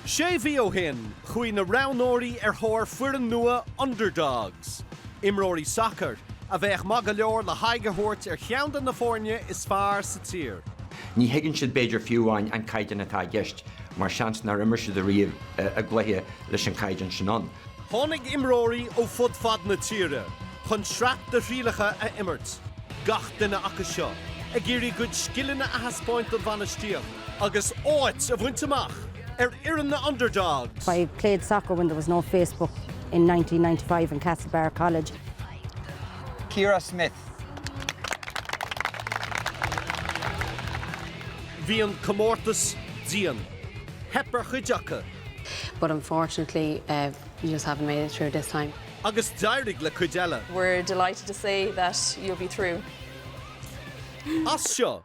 Sé mhí ó shin, chuaigh na roghnóirí ar thóir foireann nua 'underdogs', imreoirí sacair a bheadh maith go leor le haghaidh a thabhairt ar cheann de na foirne is fearr sa tír. Ní thuigeann siad b'fhéidir fiú amháin an caighdeán atá i gceist mar seans nár imir siad ariamh i gcluiche leis an gcaighdeán sin ann. Tháinig imreoirí ó fud fad na tíre chun sraith de thrialacha a imirt, gach duine acu seo ag iarraidh a gcuid scileanna a thaispeáint don bhainistíocht. agus áit a bhaint amach ar fhoireann na Underdogs. I played soccer when there was no Facebook in nineteen ninety five in Castlebar College. Ciara Smith. Bhí an comórtas dian. Theip ar chuid acu. But unfortunately you just haven't made it through this time. Agus d'éirigh le cuid eile. We're delighted to say that you'll be through. As seo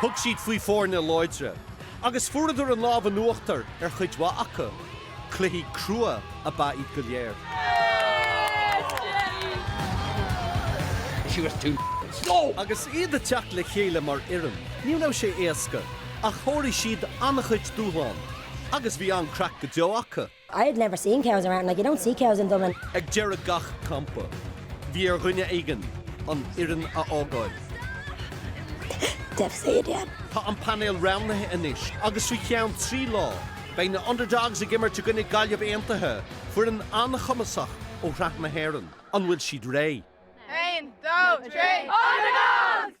Thug siad faoi foirne láidre agus fuaradar an lámh in uachtar ar chuid mhaith acu. Cluichí crua ab ea iad go léir. Agus iad ag teacht le chéile mar fhoireann, ní raibh sé éasca ach sháraigh siad an-chuid dúshlán agus bhí an-craic go deo acu. I had never seen cows around, like you don't see cows in Dublin. Ag deireadh gach campa, bhí ar dhuine éigin an fhoireann a fhágáil. Devastated, yeah. Tá an painéal roghnaithe anois agus faoi cheann trí lá, beidh na Underdogs ag imirt i gcoinne Gaillimh Aontaithe, foireann an-chumasach ó Shraith na hÉireann. An bhfuil siad réidh? Aon, dó, trí, Underdogs!